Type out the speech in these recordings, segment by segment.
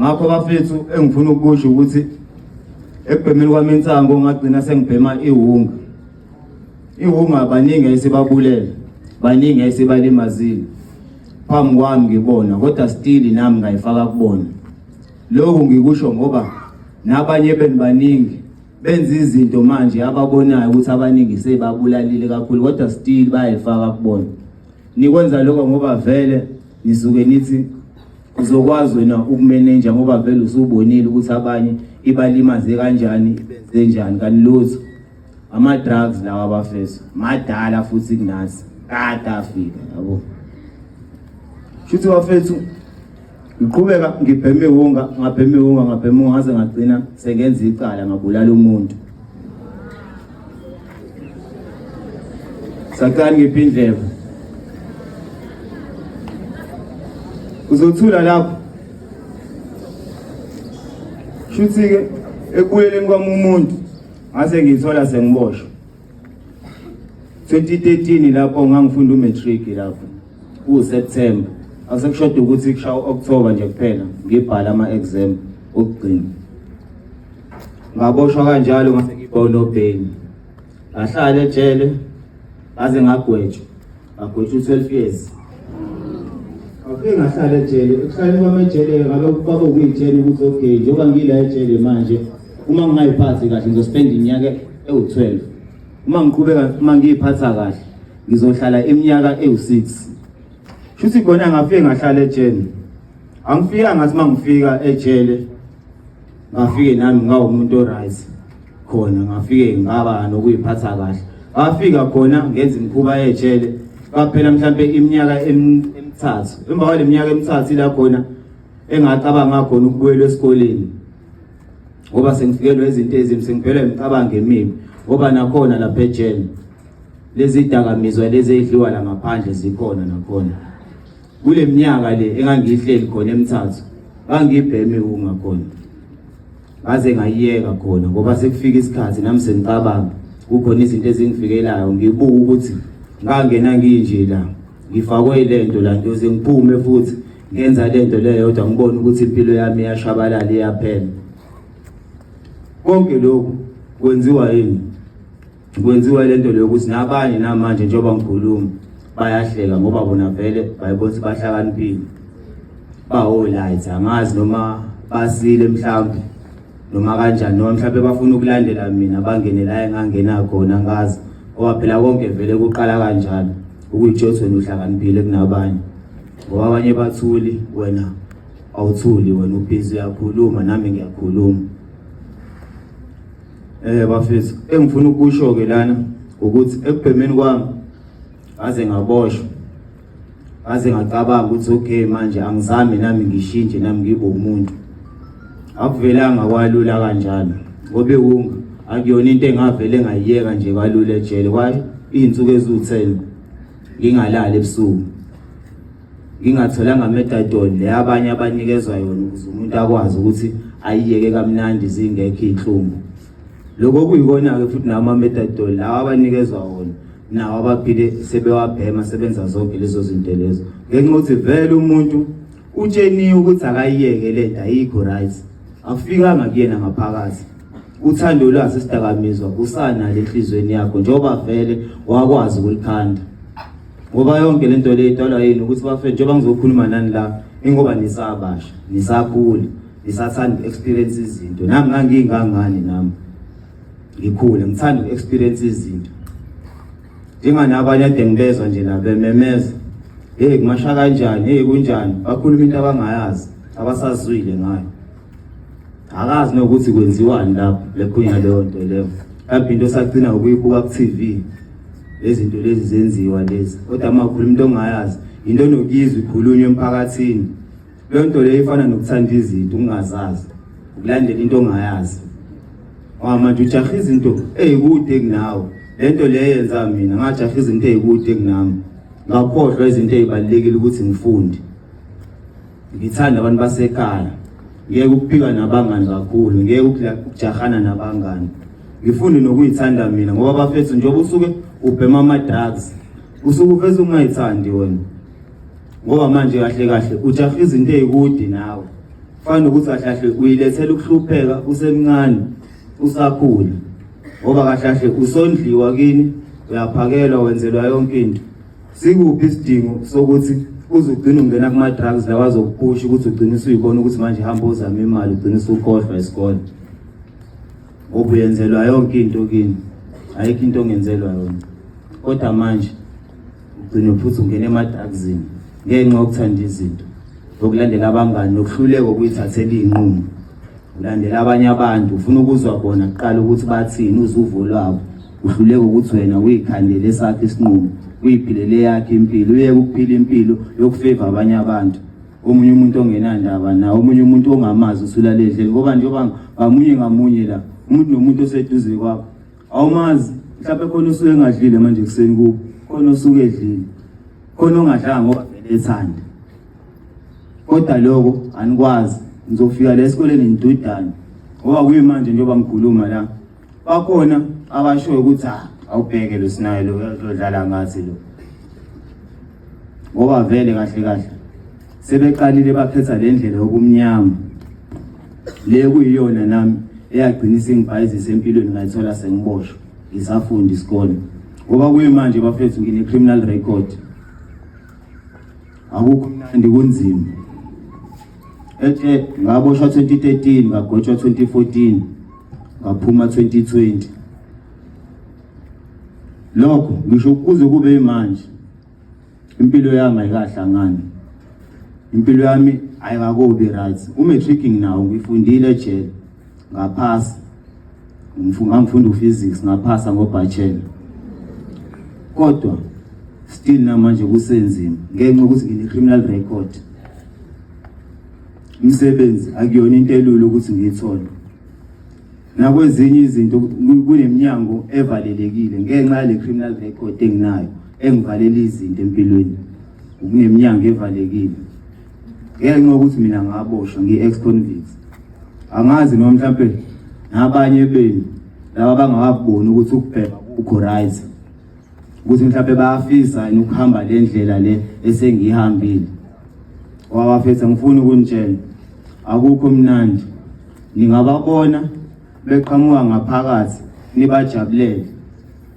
ngakho bafethu engifuna ukusho ukuthi ekubhemeni kwami insango ngagcina sengibhema iwunga iwunga baningi ayisibabulele baningi ayisibalimazile phambi kwami ngibona kodwa still nami ngayifaka kubona lokhu ngikusho ngoba nabanye beni baningi benza izinto manje ababonayo ukuthi abaningi sebabulalile kakhulu kodwa still bayayifaka kubona nikwenza lokho ngoba vele nisuke nithi Uzokwazi wena ukumenenja ngoba vele usubonile ukuthi abanye ibalimaze kanjani ibenze njani kanti lutho ama-drugs lawa abafeso madala futhi kunasi kade afika yabo shuthi bafethu ngiqhubeka ngibheme iwunga ngabheme iwunga ngabheme iwunga ngaze ngagcina sengenza icala ngabulala umuntu Sathane ngiphi indlebe. Uzothula lapho. Shuthi ke ekubuyeleni kwami umuntu ngase ngithola sengiboshwe. 2013 lapho ngangifunda umatric lapho. kuwuseptemba asekushoda ukuthi kushawa u-okthoba nje kuphela ngibhale ama-exam okugcina ngaboshwa kanjalo ngase ngibonobheni ngahlala ejele ngaze ngagwetshwa ngagwetshwa u-twelve years ngafike ngahlala ejele ekuhlaleni kwami ejele ngabe kwaba ukuyitshela ukuthi okay njengoba ngila ejele manje uma ngingayiphathi kahle ngizospenda iminyaka ewu-twelve uma ngiqhubeka uma ngiyiphatha kahle ngizohlala iminyaka ewu-6 shuthi khona ngafike ngahlala ejele angifika ngathi uma ngifika ejele ngafike nami ngawumuntu oright khona ngafike ngaba nokuyiphatha kahle ngafika khona ngenza imikhuba yejele kwaphela mhlampe iminyaka emithathu emva kwale minyaka emithathu ila khona engacabanga khona ukubuyela esikoleni ngoba sengifikelwe izinto ezimbi sengiphelwe imicabango emibi ngoba nakhona lapha ejele Lezi dakamizwa lezi edliwa la ngaphandle zikhona nakhona. Kule minyaka le engangihleli khona emthathu bangibheme ungakhona. Ngaze ngayiyeka khona ngoba sekufika isikhathi nami sengicabanga kukhona izinto ezingifikelayo ngibuka ukuthi ngangena nginje la ngifakwe lento la ngiyoze ngiphume futhi ngenza lento leyo kodwa ngibona ukuthi impilo yami iyashabalala iyaphela konke lokhu kwenziwa yini kwenziwa lento leyo ukuthi nabanye namanje njengoba ngikhuluma bayahleka ngoba bona vele bayibona ukuthi bahlakaniphile bawo-light angazi noma basile mhlawumbe noma kanjani noma mhlawumbe bafuna ukulandela mina bangene la engangena khona ngazi ngoba phela konke vele kuqala kanjalo ukuyitshothi wena uhlakaniphile kunabanye ngoba abanye bathuli wena awuthuli wena ubhizi uyakhuluma nami ngiyakhuluma Eh bafethu engifuna ukusho ke lana ukuthi ekubhemeni kwami aze ngaboshwa aze ngacabanga ukuthi okay manje angizami nami ngishintshe nami ngibe umuntu akuvelanga kwalula kanjalo ngobe wunga akuyona into engavele ngayiyeka nje kalula ejele kwaye izinsuku eziwu10 ngingalali ebusuku ngingatholanga metadol le abanye abanikezwa yona ukuze umuntu akwazi ukuthi ayiyeke kamnandi zingekho iy'nhlungu lokho kuyikona-ke futhi nawo ama-metadol lawa abanikezwa wona nawo abaphile sebewabhema sebenza zonke lezo zinto lezo ngenxa ukuthi vele umuntu utsheniwe ukuthi akayiyeke le nto ayikho right akufikanga kuyena ngaphakathi uthando lwazi isidakamizwa kusanalo enhliziyweni yakho njengoba vele wakwazi ukulikhanda ngoba yonke le nto le idalwa yini ukuthi bafethu njengoba ngizokhuluma nani la ingoba nisabasha nisakhula nisathanda uku-experience izinto nami ngangiyingangani nami ngikhule ngithanda uku-experience izinto njenganabanye ade ngibezwa nje nabememeza heyi kumasha kanjani heyi kunjani bakhuluma into abangayazi abasazwile ngayo akazi nokuthi kwenziwani lapho lekhunya leyo nto leyo kambe into esagcina ukuyibuka ku-tv lezinto lezi zenziwa lezi kodwa uma ukhuluma into ongayazi yinto enokuyizwa ikhulunywa emphakathini leyo nto leyo ifana nokuthanda izinto ungazazi ukulandela into ongayazi manje ujaha izinto eyikude kunawe le nto leyo yenza mina ngajaha izinto eyikude kunami ngakhohlwa izinto ezibalekile ukuthi ngifunde ngithanda abantu basekhaya ngeke ukupika nabangani kakhulu ngeke ukujahana nabangani ngifunde nokuyithanda mina ngoba bafethu njengoba usuke ubhema ama-drugs usuke uveze ungayithandi wena ngoba manje kahle kahle ujaha izinto ey'kude nawe kufana nokuthi kahle kahle uyilethela ukuhlupheka usemncane usakhula ngoba kahle kahle usondliwa kini uyaphakelwa wenzelwa yonke into Sikuphi isidingo sokuthi uze ugcine ungena kuma-drugs lawa azokuphusha ukuthi ugcine usuyibona ukuthi manje hamba uzame imali ugcine usukhohlwa isikole ngoba uyenzelwa yonke into kini ayikho into ongenzelwa yona kodwa manje ugcine futhi ungena emadakzini ngenxa yokuthanda izinto yokulandela abangani nokuhluleka ukuyithathela iy'nqumo ulandela abanye abantu ufuna ukuzwa bona kuqala ukuthi bathini uzuvo lwabo uhluleka ukuthi wena uyikhandele esakhe isinqumo uyiphilele yakhe impilo uyeke ukuphila impilo yokufeva abanye abantu omunye umuntu ongenandaba na omunye umuntu ongamazi usulaledleni ngoba njengoba ngamunye ngamunye la umuntu nomuntu oseduze kwakho awumazi mhlawumbe khona osuke engadlile manje ekuseni kubo khona osuke edlile khona ongadlanga ngoba vele ethanda kodwa lokho anikwazi ngizofika la esikoleni ngidudane ngoba kuyimanje njengoba ngikhuluma la bakhona abashoyo ukuthi ah, awubheke lo sinayo lo uyadlala ngathi lo ngoba vele kahle kahle sebeqalile baphetha le ndlela yokumnyama le kuyiyona nami eyagcina isingibhayizisa empilweni ngayithola sengiboshwa ngisafundi isikole ngoba kuyimanje bafethu ngine-criminal record akukho mnandi kunzima ethe ngaboshwa 2013 ngagotshwa 2014 ngaphuma 2020 lokho ngisho kuze kube manje impilo yami ayikahlangani impilo yami ayikakobi right umatricking nawo ngifundile ejele ngaphasa ngangifunda uphysics ngaphasa ngobachelor kodwa still namanje kusenzima ngenxa ukuthi ngine-criminal record Umsebenzi akuyona into elula ukuthi ngiyithole. Nakwezinye izinto kuneminyango evalelekile ngenxa yale criminal record enginayo engivalela izinto empilweni. Kuneminyango evalekile. Ngenxa ukuthi mina ngaboshwa ngi-ex convict. Angazi noma mhlawumbe nabanye benu laba bangakaboni ukuthi ukubheka kukho right. ukuthi mhlawumbe bayafisa yini ukuhamba le ndlela le esengiyihambile wabafethu angifuni ukunitshela akukho mnandi ningababona beqhamuka ngaphakathi nibajabulele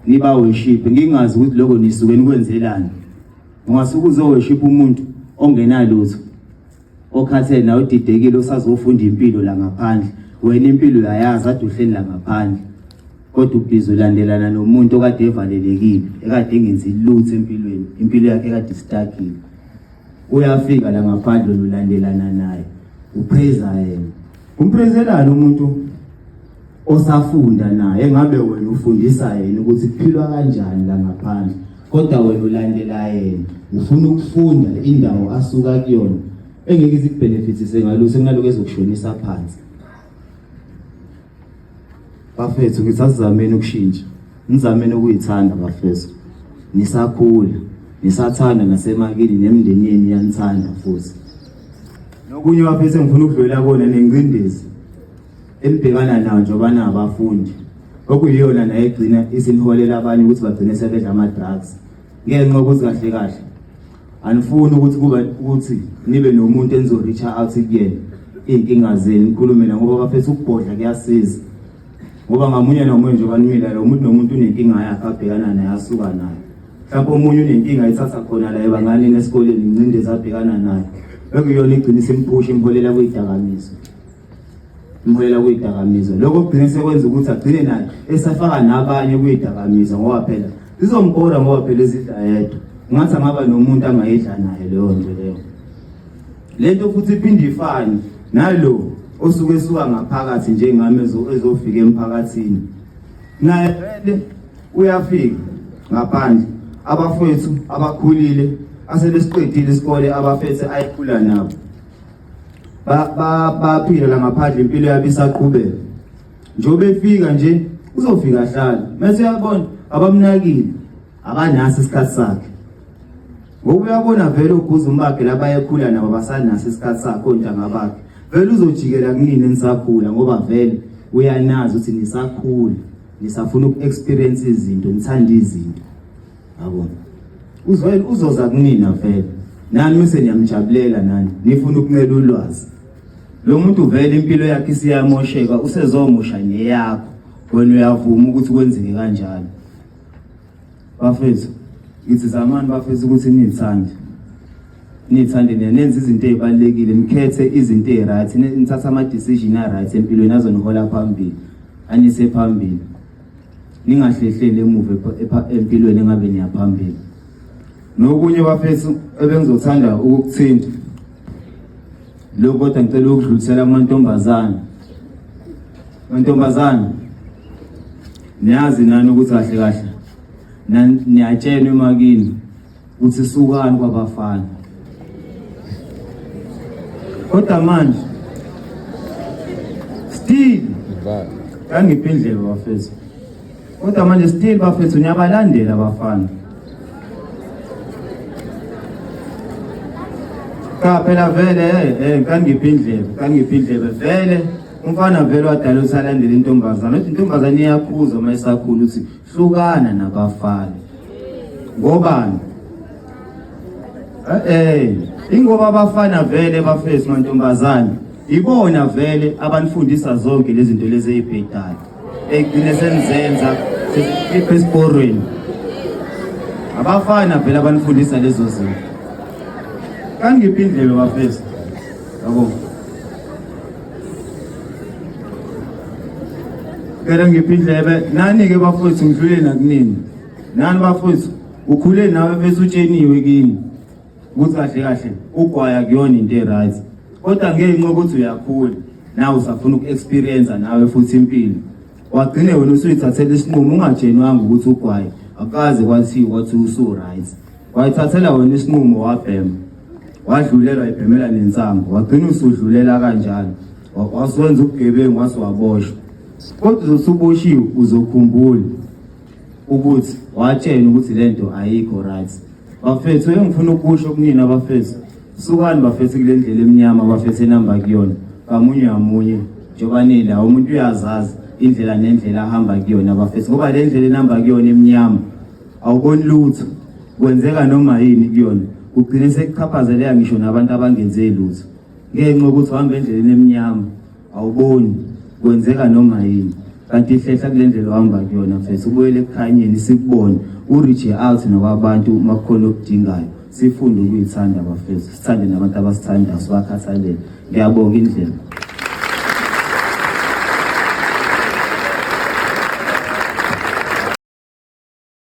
nibaweshiphe ngingazi ukuthi lokho nisuke nikwenzelani ungasuke uzoweshipha umuntu ongenalutho okhathele nawe udidekile usazofunda impilo la ngaphandle wena impilo uyayazi ade uhleli la ngaphandle kodwa ubhizi ulandelana nomuntu okade evalelekile ekade engenzi lutho empilweni impilo yakhe ekade istakile uyafika la ngaphandle lulandelana naye upheza yena umprezelani umuntu osafunda naye ngabe wena ufundisa yena ukuthi kuphilwa kanjani la ngaphandle kodwa wena ulandela yena ufuna ukufunda indawo asuka kuyona engeke izikubenefitise ngalo sekunaloko ezokushonisa phansi bafethu ngithi asizameni ukushintsha nizameni ukuyithanda bafethu nisakhula nisathanda nasemakini nemndeni yenu yanithanda futhi nokunye bafethu engifuna ukudlulela kona nengcindezi elibhekana nawo njengoba nabafundi okuyiyona nayo egcina isiniholela abanye ukuthi bagcine sebedla ama-drugs ngenxa ukuthi kahle kahle anifuni ukuthi kuba ukuthi nibe nomuntu enizo-reacha out kuyena iy'nkinga zenu nikhulume na ngoba bafetha ukubhodla kuyasiza ngoba ngamunye nomunye nje obanimilayo umuntu nomuntu unenkinga yakhe abhekana naye asuka nayo mhlawumbe omunye unenkinga ithatha khona la ebanganini esikoleni incindezi abhekana nayo bekuyona igcina isimphusha imholela kuyidakamiswa umholela kuyidakamiza lokho kugcine sekwenza ukuthi agcine naye esafaka nabanye kuyidakamiza ngoba phela zizombhora ngoba phela ezidla yedwa ngathi angaba nomuntu angayidla naye leyo nto leyo le nto futhi iphinde ifane nalo osuke esuka ngaphakathi njengami ezofika emphakathini naye vele uyafika ngaphandle abafowethu abakhulile asebesiqedile isikole abafethe ayikhula nabo baphila la ngaphandle impilo yabo isaqhubeka njengoba efika nje uzofika ahlale mase uyabona abamnakile akanasi isikhathi sakhe ngoba uyabona vele uguza umbakhe labayekhula nabo basanasi isikhathi sakhe ontanga bakhe vele uzojikela kunini nisakhula ngoba vele uyanazi ukuthi nisakhula nisafuna uku-experience izinto nithanda izinto Yabona. Uzwela uzoza kunina vele. Nani mse niyamjabulela nani. Nifuna ukuncela ulwazi. Lo muntu vele impilo yakhe isiyamosheka usezomosha neyakho. Wena uyavuma ukuthi kwenzeke kanjalo. Bafethu, ngithi zamani bafethu ukuthi nithande. Nithande nenze izinto ezibalekile, nikhethe izinto eziright, nithatha ama decision a right empilweni azonihola phambili. Anise phambili. ningahlehleli emuva empilweni engabe niyaphambili nokunye bafethu ebengizothanda ukukuthinta lokho kodwa ngicela ukudlulisela kumantombazane mantombazane niyazi nani ukuthi kahle kahle niyatshenwa emakini uthi sukani kwabafana kodwa manje still kangiphi indlela bafethu kodwa manje still bafethu niyabalandela abafana cha phela vele eh, eh kangiphi indlela kangiphi indlela vele umfana vele wadala ukuthi alandele intombazane uthi intombazane iyakhuza uma isakhula ukuthi hlukana nabafana ngobani eh ingoba abafana vele bafesi mantombazane ibona vele abanifundisa zonke lezi zinto lezi ezibhedayo ekugcine senizenza sikhipha esiporweni abafana vele abanifundisa lezo zinto kangiphi indlela bafesi yabo Kera ngiphi indlebe nani ke bafowethu ngidlule nakunini nani bafowethu ukhule nawe bese utsheniwe kini ukuthi kahle kahle ugwaya kuyona into e-right kodwa ngenxa yokuthi uyakhula nawe usafuna uku-experiensa nawe futhi impilo wagcine wena usuyithathela isinqumo ungatshenwanga ukuthi ugwaye akukaze kwathiwa ukuthi usu-right Wayithathela wena isinqumo wabhema. Wadlulelwa ibhemela nensangu. Wagcina usudlulela kanjalo. Waswenza ubugebengu wase waboshwa. Kodwa uzosuboshiwe uzokhumbula ukuthi watshena ukuthi lento ayikho right. Bafethu engifuna ukusho kunina abafethu. Sukani bafethu kule ndlela emnyama abafethu enamba kuyona. Kamunye ngamunye njengoba nila umuntu uyazazi indlela nendlela ahamba kuyona abafethu ngoba le ndlela enamba kuyona emnyama awuboni lutho kwenzeka noma yini kuyona kugcine sekuchaphazeleka ngisho nabantu abangenze lutho ngenxa yokuthi uhamba endleleni emnyama awuboni kwenzeka noma yini kanti ihlehla kule ndlela ohamba kuyona mfethu ubuyele ekukhanyeni sikubone urije out nawabantu uma kukhona okudingayo sifunde ukuyithanda bafethu sithande nabantu abasithandayo sibakhathalele ngiyabonga indlela